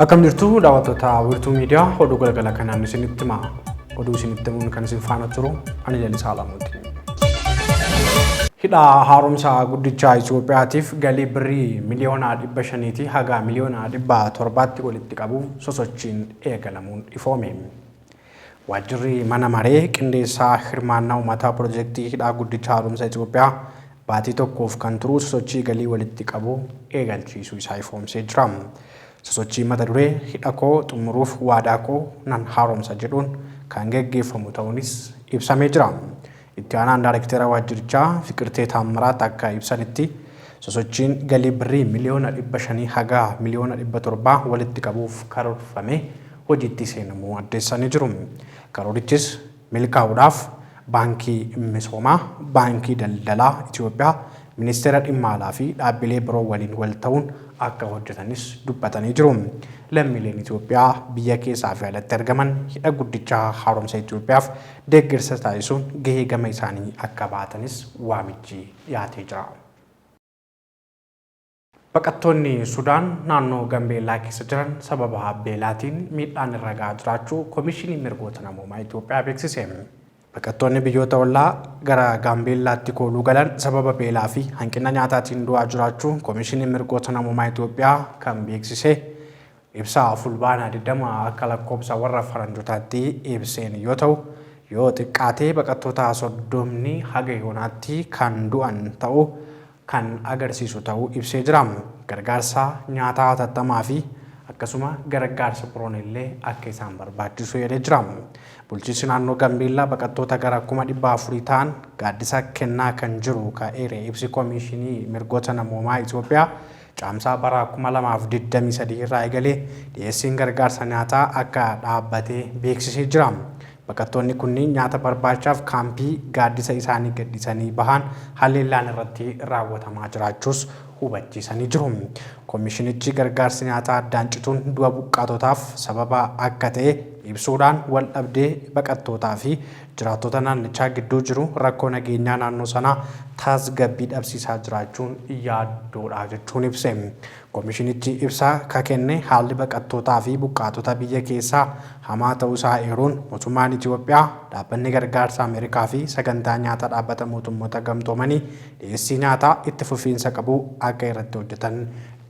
Akkam jirtu daawwattoota wiirtuu miidiyaa oduu galgala kanaan isinitti hima. Oduu isinitti himuun kan isin faana turu ani Lalisaa Laamuuti. Hidha haaromsa guddichaa Itoophiyaatiif galii birrii miliyoona dhibba shaniitii haga miliyoona dhibba torbaatti walitti qabuuf sosochiin eegalamuun ifoome. Waajjirri Mana Maree Qindeessaa Hirmaannaa Uummataa Pirojektii Hidhaa Guddicha Haaromsa Itiyoophiyaa baatii tokkoof kan turu sosochii galii walitti qabu eegalchiisuu isaa ifoomsee jira. Sosochii mata duree Hidha koo xumuruuf waadaa koo nan haaromsa jedhuun kan geggeeffamu ta'uunis ibsamee jira. Itti aanaan daarektera waajjirichaa Fiqirtee Taammiraat akka ibsanitti, sosochiin galii Birrii miliyoona 500 haga miliyoona 700 walitti qabuuf karoorfame hojiitti seenamuu addeessanii jiru. Karoorichis milkaa'uudhaaf Baankii Misoomaa, Baankii Daldalaa Itiyoophiyaa, Ministeera Dhimma Alaa fi dhaabbilee biroo waliin wal ta'uun akka hojjetanis dubbatanii jiru. Lammiileen Itiyoophiyaa biyya keessaa fi alatti argaman Hidha Guddicha Haaromsa Itiyoophiyaaf deeggarsa taasisuun gahee gama isaanii akka bahatanis waamichi dhiyaatee jira. Baqattoonni Sudaan naannoo Gambeellaa keessa jiran sababa beelaatiin miidhaan irra gahaa jiraachuu Komishiniin Mirgoota Namoomaa Itoophiyaa beeksise. Baqattoonni biyyoota ollaa gara Gaambeellaatti kooluu galan sababa beelaa fi hanqina nyaataatiin du'aa jiraachuu Komishiniin Mirgoota Namoomaa Itoophiyaa kan beeksise Ibsa Fulbaana 20 akka lakkoobsa warra faranjotaatti ibseen yoo ta'u, yoo xiqqaatee baqattoota soddomni haga yoonaatti kan du'an ta'uu kan agarsiisu ta'uu ibsee jira. Gargaarsa nyaataa hatattamaa fi akkasuma garaggaarsa biroon illee akka isaan barbaachisu eeree jira. Bulchiinsi naannoo Gambeellaa baqattoota gara 400,000 ta'an gaaddisa kennaa kan jiru ka eere ibsi Komiishinii Mirgoota Namoomaa Itoophiyaa, Caamsaa bara 2023 irraa eegalee dhiyeessiin gargaarsa nyaataa akka dhaabbate beeksisee jira. Baqattoonni kunniin nyaata barbaachaaf kaampii gaaddisa isaanii gadhiisanii bahaan haleellaan irratti raawwatamaa jiraachuus hubachiisanii jiru. Komishinichi gargaarsi nyaataa addaan cituun du'a buqqaatotaaf sababa akka ta'e ibsuudhaan waldhabdee baqattootaa fi Jiraattota naannichaa gidduu jiru rakkoo nageenyaa naannoo sanaa taasgabbii dhabsiisaa jiraachuun yaaddoodha jechuun ibse. Komishinichi ibsa ka kenne haalli baqattootaa fi buqqaatota biyya keessaa hamaa ta'uu isaa eeruun mootummaan Itiyoophiyaa, dhaabbanni gargaarsa Ameerikaa fi sagantaa nyaata dhaabbata mootummoota gamtoomanii dhiyeessii nyaataa itti fufiinsa qabu akka irratti hojjetan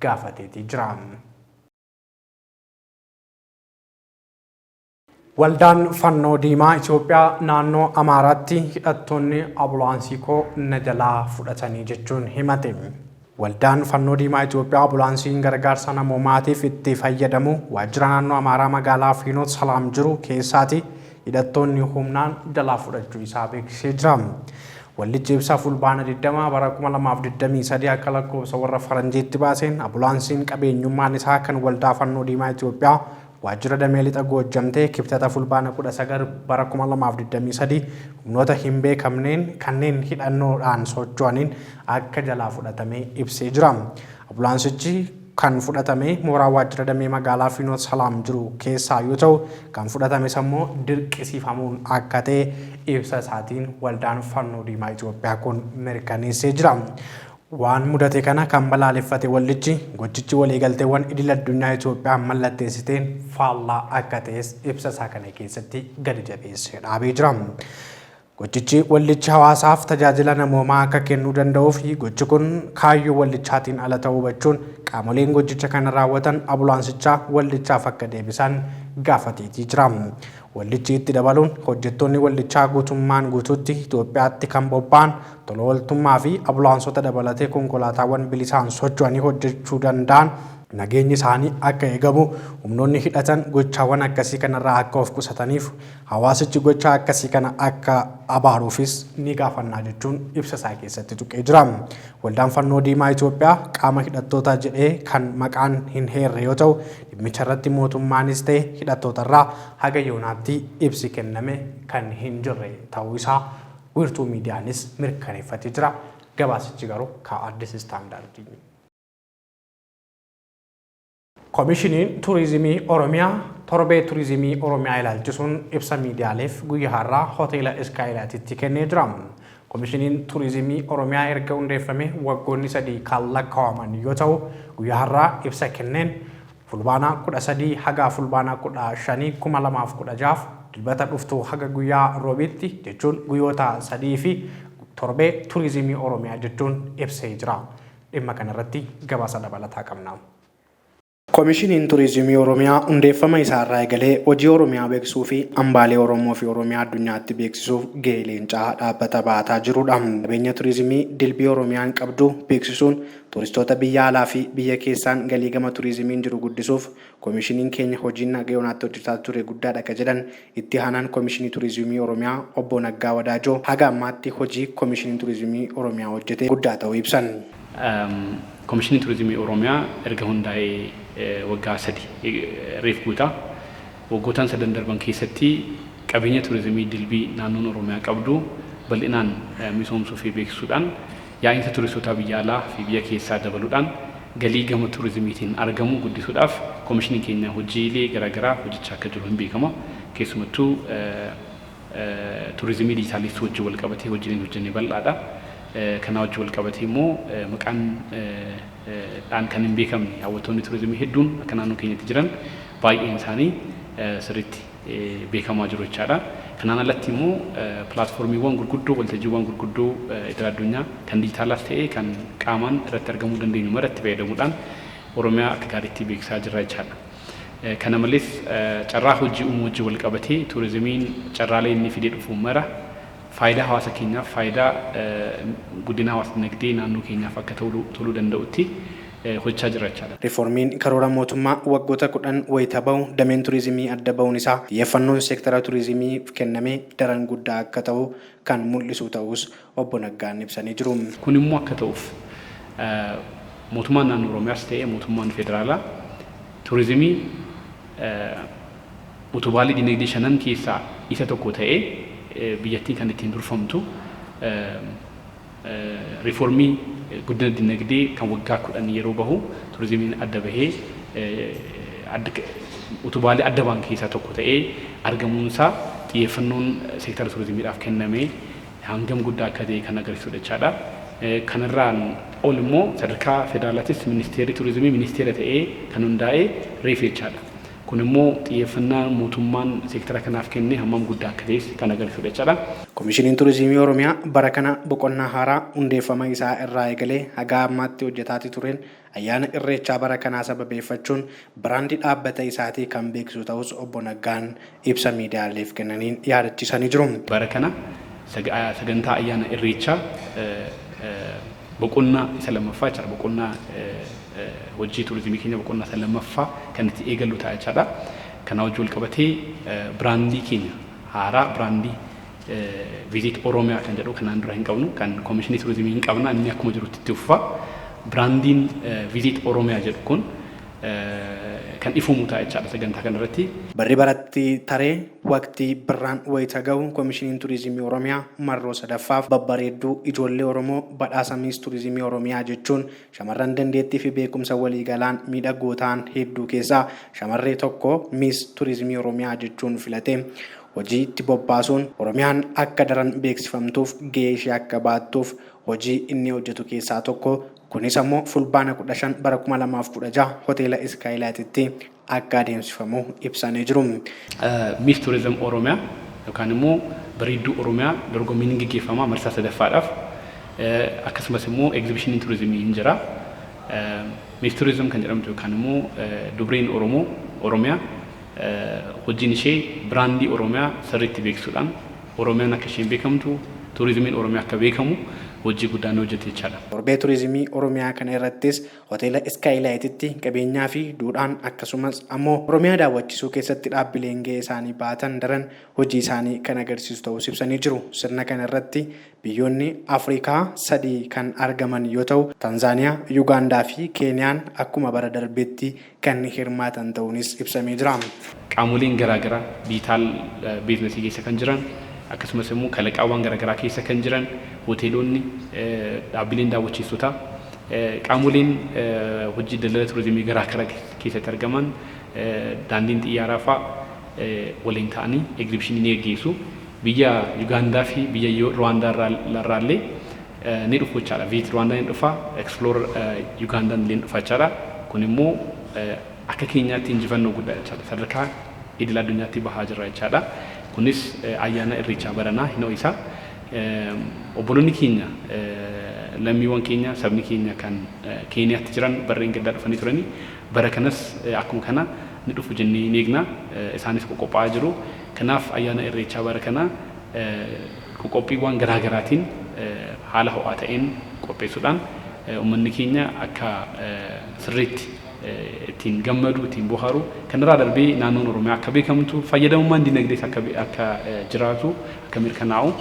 gaafateetii jira. Waldaan Fannoo Diimaa Itoophiyaa naannoo Amaaraatti hidhattoonni abulaansii koo na jalaa fudhatanii jechuun himate. Waldaan Fannoo Diimaa Itoophiyaa abulaansiin gargaarsa namoomaatiif itti fayyadamu waajjira naannoo Amaaraa magaalaa Fiinoot Salaam jiru keessaati hidhattoonni humnaan jalaa fudhachuu isaa beeksisee jira. Waldichi ibsa fulbaana 20 bara 2023 akka lakkoofsa warra faranjiitti baaseen abulaansiin qabeenyummaan isaa kan waldaa Fannoo Diimaa Itoophiyaa Waajjira Damee Lixa Goojjam'tti Kibxata Fulbaana 19 bara 2023 humnoota hin beekamneen kanneen hidhannoo dhaan socho'aniin akka jalaa fudhatame ibsee jira. Abulaansichi kan fudhatame mooraa waajjira damee magaalaa Fiinoot Salaam jiru keessaa yoo ta'u, kan fudhatames ammoo dirqisiifamuun akka ta'e ibsa isaatiin Waldaan Fannoo Diimaa Itiyoophiyaa kun mirkaneessee jira. Waan mudate kana kan balaaleffate waldichi, gochichi waliigalteewwan idil-addunyaa Itoophiyaan mallatteessiteen faallaa akka ta'es ibsa isaa kana keessatti gadi jabeessee dhaabee jira. Gochichi waldichi hawaasaaf tajaajila namoomaa akka kennuu danda'uuf gochi kun kaayyoo waldichaatiin ala ta'uu hubachuun qaamoleen gochicha kana raawwatan abulaansichaa waldichaaf akka deebisan gaafateetii jira. Waldichi itti dabaluun hojjettoonni waldichaa guutummaan guutuutti Itoophiyaatti kan bobba'an, tola ooltummaa fi abulaansota dabalatee konkolaataawwan bilisaan socho'anii hojjechuu danda'an, nageenyi isaanii akka eegamu, humnoonni hidhatan gochaawwan akkasii kanarraa akka of qusataniif hawaasichi gochaa akkasii kana akka abaaruufis ni gaafannaa jechuun ibsa isaa keessatti tuqee jira. Waldaan Fannoo Diimaa Itoophiyaa qaama hidhattootaa jedhee kan maqaan hin heerre yoo ta'u, Dhimmicharratti mootummaanis ta'e hidhattootarraa haga yoonaatti ibsi kenname kan hin jirre ta'uu isaa wiirtuu miidiyaanis mirkaneeffatee jira. Gabaasichi garuu ka Addis Standard. Komishiniin Turizimii Oromiyaa torbee turizimii Oromiyaa ilaalchisuun ibsa miidiyaaleef guyyaa har'aa Hoteela Iskaayilaatitti kennee jira. Komishiniin Turizimii Oromiyaa erga hundeeffamee waggoonni sadii kan lakkaa'aman yoo ta'u, guyyaa har'aa ibsa kenneen Fulbaana 13 haga Fulbaana 15, 2016 Dilbata dhuftu haga guyyaa Roobiitti jechuun guyyoota sadii fi torbee Turizimii Oromiyaa jechuun ibsee jira. Dhimma kana irratti gabaasa dabalataa qabna. Komishiniin Turiizimii Oromiyaa hundeeffama isaa irraa eegalee hojii Oromiyaa beeksisuu fi hambaalee Oromoo fi Oromiyaa addunyaatti beeksisuuf gahee leencaa dhaabbata ba'ataa jirudha. Qabeenya turiizimii dilbii Oromiyaan qabdu beeksisuun turistoota biyya alaa fi biyya keessaan galii gama turiizimiin jiru guddisuuf komishiniin keenya hojiin haga yoonaatti hojjetaa ture guddaadha ka jedhan Itti Aanaan Komishinii Turizimii Oromiyaa Obbo Naggaa Wadaajoo haga ammaatti hojii Komishiniin Turizimii Oromiyaa hojjete guddaa ta'uu ibsan. Komishiniin Turizimii Oromiyaa erga hundaa'ee waggaa sadi reef guuta. Waggootaan sadan darban keessatti qabeenya turizimii dilbii naannoon Oromiyaa qabdu bal'inaan misoomsuu fi beeksisuudhaan Yaa'iinsa Tuuristootaa biyya alaa fi biyya keessaa dabaluudhaan galii gama tuurizimiitiin argamu guddisuudhaaf komishiniin keenya hojiilee garaagaraa hojjechaa akka jiru hinbeekama. Keessumattuu tuurizimii dijitaaleessuu wajjin walqabatee hojiileen hojjenne bal'aadha. Kanaa wajjin walqabatee immoo maqaan dhaan kan hinbeekamne hawwattoonni tuurizimii hedduun akka naannoo keenyatti jiran baay'een isaanii sirriitti beekamaa jiru jechaadha. Kanaan alatti immoo pilaatfoormiiwwan gurguddoo, waltajjiiwwan gurguddoo idil addunyaa kan dijitaalaas ta'ee kan qaamaan irratti argamuu dandeenyu maratti fayyadamuudhaan Oromiyaa akka gaariitti beeksisaa jirra jechaadha. Kana malees carraa hojii uumuu wajjin wal qabatee tuurizimiin carraalee inni fidee dhufu mara faayidaa hawaasa keenyaaf, faayidaa guddina hawaas dinagdee naannoo keenyaaf akka toluu danda'utti hojjechaa jirra jechaadha. Riifoormiin karoora mootummaa waggoota 10 wayita bahu dameen turiizimii adda bahuun isaa xiyyeeffannoon seektara turiizimiif kenname daran guddaa akka tahu kan mul'isuu tahuus Obbo Naggaan ibsanii jiru. Kun immoo akka tahuuf mootummaan naannoo Oromiyaas ta'ee mootummaan federaalaa turiizimii utubaalee dinagdee shanan keessaa isa tokko ta'ee biyyattiin kan ittiin durfamtu, Riifoormii guddina dinagdee kan waggaa 10 yeroo bahu turizimiin adda bahee utubaalee adda bahan keessaa tokko ta'ee argamuunsaa xiyyeeffannoon seektara turizimiidhaaf kenname hangam guddaa akka ta'e kan agarsiisudha jechaadha. Kanarraan ol immoo sadarkaa federaalaattis ministeerri turizimii ministeera ta'ee kan hundaa'e reefu jechaadha. Kun immoo xiyyeeffannaa mootummaan seektara kanaaf kenne hammam guddaa akka ta'es kan agarsiisudha jechaadha. Komishiniin Turizimii Oromiyaa bara kana boqonnaa haaraa hundeeffama isaa irraa eegalee hagaa ammaatti hojjetaati tureen ayyaana Irreechaa bara kanaa sababeeffachuun biraandii dhaabbata isaatii kan beeksisu ta'uus Obbo Naggaan ibsa miidiyaaleef kennaniin yaadachiisanii jiru. Bara kana sagantaa ayyaana Irreechaa boqonnaa isa lammaffaa jechaadha. Boqonnaa hojii tuurizimii keenya boqonnaa isa lammaffaa kan itti eegallu ta'a jechaadha. Kanaa wajjin wal qabatee biraandii keenya haaraa biraandii Visit Oromia kan jedhu kanaan dura hin qabnu kan Komishinii Tuurizimii hin qabna inni akkuma jirutti itti fufa. Biraandiin Visit Oromia jedhu kun kan ifoomu ta'a jechaadha sagantaa kanarratti. Barri baratti taree waqtii birraan wayita gahu Komishiniin Tuurizimii Oromiyaa marroo sadaffaaf babbareedduu ijoollee Oromoo badhaasa Miis Tuurizimii Oromiyaa jechuun Shamarran dandeettii fi beekumsa waliigalaan miidhagoo ta'an hedduu keessaa shamarree tokko Miss Turizimii Oromiyaa jechuun filatee hojii itti bobbaasuun Oromiyaan akka daran beeksifamtuuf gahee ishee akka bahattuuf hojii inni hojjetu keessaa tokko kunis ammoo Fulbaana 15 bara 2016 Hoteela Iskaayilaayititti akka adeemsifamu ibsanii jiru. Miss Tourism Oromia yookaan immoo Bareedduu Oromiyaa dorgommiin ni geggeeffama marsaa 3ffaadhaaf. Akkasumas immoo Egzibishiniin Turizimii ni jira. Miss Tourism kan jedhamtu yookaan immoo dubriin Oromoo Oromiyaa hojiin ishee biraandii Oromiyaa sirriitti beeksisuudhaan Oromiyaan akka isheen beekamtu, Turizimiin Oromiyaa akka beekamu hojii guddaa ni hojjetti jechaadha. Torbee Turizimii Oromiyaa kana irrattis Hoteela Iskaayilaayititti qabeenyaa fi duudhaan akkasumas ammoo Oromiyaa daawwachisuu keessatti dhaabbileen gahee isaanii bahatan daran hojii isaanii kan agarsiisu ta'uus ibsanii jiru. Sirna kana irratti biyyoonni Afrikaa sadii kan argaman yoo ta'u, Tanzaaniyaa, Yugaandaa fi Keeniyaan akkuma bara darbeetti kan hirmaatan ta'uunis ibsamee jira. Qaamoleen garaa garaa diijitaal biiznasii keessa kan jiran akkasumas immoo kalaqaawwan gara garaa keessa kan jiran hoteelonni, dhaabbileen daawwachiistotaa, qaamoleen hojii daldala turizimii garaa gara keessatti argaman, daandiin xiyyaaraa fa'a waliin ta'anii egzibishinii ni gaggeessu. Biyya Yugaandaa fi biyya Ruwaandaa irraa illee ni dhufu jechaadha. Viit Ruwaandaan hin dhufa, Explorer Yugaandaan illee ni dhufa jechaadha. Kun immoo akka keenyaatti injifannoo guddaa jechaadha. Sadarkaa idil addunyaatti bahaa jirra jechaadha. Kunis ayyaana Irreechaa baranaa hin ho'isa. Obboloonni keenya lammiiwwan keenya sabni keenya kan Keeniyaatti jiran barreen gaddaa dhufanii turanii bara kanas akkuma kana ni dhufu jennee ni eegna. Isaanis qoqophaa'aa jiru. Kanaaf ayyaana Irreechaa bara kanaa Qoqophiiwwaan garaa garaatiin haala ho'aa ta'een qopheessuudhaan ummanni keenya akka sirriitti ittiin gammadu, ittiin bohaaru, kanarraa darbee naannoon Oromiyaa akka beekamtu, fayyadamummaan dinagdees akka akka jiraatu, akka mirkanaa'u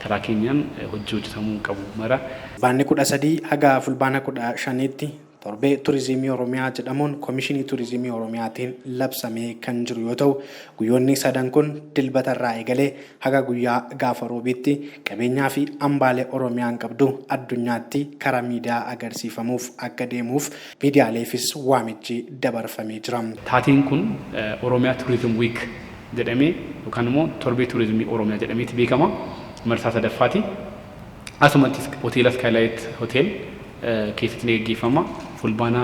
karaa keenyaan hojii hojjetamuu qabu mara. Fulbaanni 13 haga Fulbaana 15tti Torbee Turizimii Oromiyaa jedhamuun Komishinii Turizimii Oromiyaatiin labsamee kan jiru yoo ta'u, guyyoonni sadan kun Dilbata irraa eegalee haga guyyaa gaafa Roobiitti qabeenyaa fi hambaalee Oromiyaan qabdu addunyaatti karaa miidiyaa agarsiifamuuf akka deemuuf miidiyaaleefis waamichi dabarfamee jira. Taateen kun Oromia Tourism Week jedhamee yookaan immoo Torbee Turizimii Oromiyaa jedhameeti beekama. Marsaa 3ffaati. Asumattis Hoteela Skylight Hotel keessatti ni gaggeeffama. Fulbaana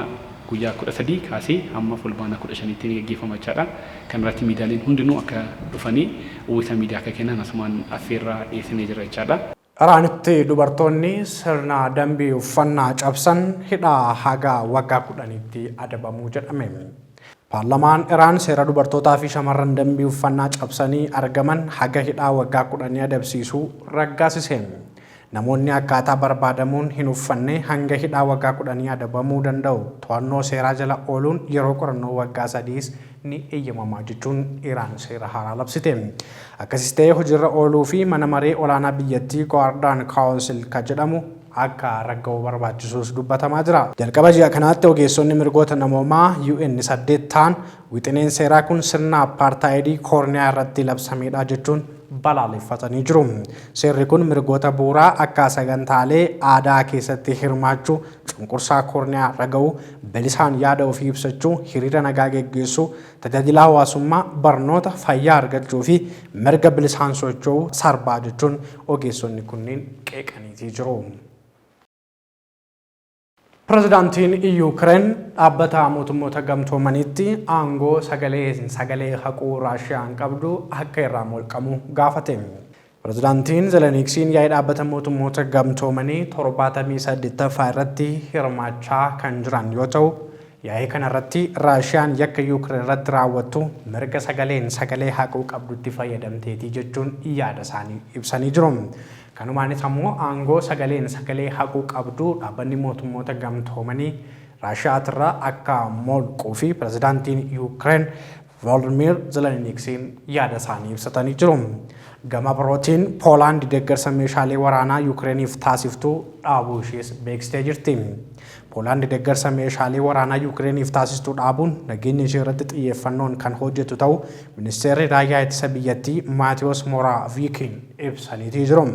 guyyaa 13 kaasee hamma Fulbaana 15tti ni gaggeeffama jechaadha. Kanarratti miidiyaaleen hundinuu akka dhufanii uwwisa miidiyaa akka kennan asumaan affeerraa dhiyeessinee jirra jechaadha. Iraanitti dubartoonni sirna dambii uffannaa cabsan hidhaa haga waggaa 10tti adabamu jedhame. Paarlamaan Iraan seera dubartootaa fi shamarran dambii uffannaa cabsanii argaman haga hidhaa waggaa kudhanii adabsiisu raggaasise. Namoonni akkaataa barbaadamuun hin uffanne hanga hidhaa waggaa kudhanii adabamuu danda'u. To'annoo seeraa jala ooluun yeroo qorannoo waggaa sadiis ni eeyyamama jechuun Iraan seera haaraa labsite. Akkasis ta'ee hojiirra ooluu fi mana maree olaanaa biyyattii Guardian Council ka jedhamu akka ragga'u barbaachisuus dubbatamaa jira. Jalqaba ji'a kanaatti ogeessonni mirgoota namoomaa UN saddeet ta'an wixineen seeraa kun sirna appaartaayidii koorniyaa irratti labsameedha jechuun balaaleffatanii jiru. Seerri kun mirgoota bu'uuraa akka sagantaalee aadaa keessatti hirmaachuu, cunqursaa koorniyaa raga'uu, bilisaan yaada ofii ibsachuu, hiriira nagaa geggeessuu, Tajaajila hawaasummaa, barnoota, fayyaa argachuu fi mirga bilisaan socho'uu sarbaa jechuun ogeessonni kunneen qeeqaniitii jiru. Pirezidaantiin Yuukireen Dhaabbata Mootummoota Gamtoomaniitti aangoo sagalee sagalee haquu Raashiyaan qabdu akka irraa molqamu gaafate. Pirezidaantiin Zeleniksiin yaa'ii dhaabbata mootummoota gamtoomanii 78ffaa irratti hirmaachaa kan jiran yoo ta'u, yaa'ii kanarratti Raashiyaan yakka Yuukireen irratti raawwattu mirga sagaleen sagalee haquu qabdutti fayyadamteetii jechuun yaada isaanii ibsanii jiru. Kanumaanis ammoo aangoo sagaleen sagalee haquu qabdu dhaabbanni mootummoota gamtoomanii Raashiyaatirraa akka molquu fi pirezidaantiin Yuukireen Volodymyr Zeleniksiin yaada isaanii ibsatanii jiru. Gama birootiin Poolaand deeggarsa meeshaalee waraanaa Yukireeniif taasiftu dhaabuu ishees beeksitee jirti. Poolaand deeggarsa meeshaalee waraanaa Yukireeniif taasistu dhaabuun nageenya ishee irratti xiyyeeffannoon kan hojjetu ta'u ministeerri raayyaa ittisa biyyattii Maatiyoos Moraaviikiin ibsaniitii jiru.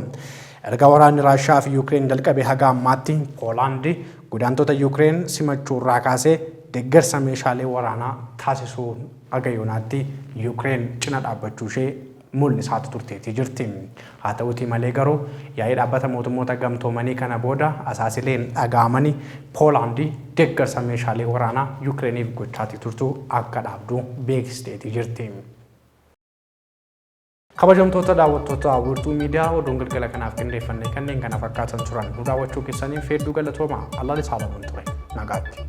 Erga waraanni Raashiyaa fi Yukireen jalqabe haga ammaatti Poolaand Godaantota Yuukireen simachuu irraa kaasee deeggarsa meeshaalee waraanaa taasisuun haga yoonaatti Yuukireen cina dhaabbachuu ishee mul'isaati turteetii jirti. Haa ta'uutii malee garuu yaa'ii Dhaabbata Mootummoota Gamtoomanii kana booda asaasileen dhaga'amani Poolaandi deeggarsa meeshaalee waraanaa Yuukireeniif gochaatii turtu akka dhaabdu beeksisteetii jirti. Kabajamtoota daawwattoota Wiirtuu Miidiyaa oduun galgala kanaaf qindeeffanne kanneen kana fakkaatan turan nu daawwachuu keessaniif hedduu galatooma. Allaan isaa lamuun ture. Nagaatti.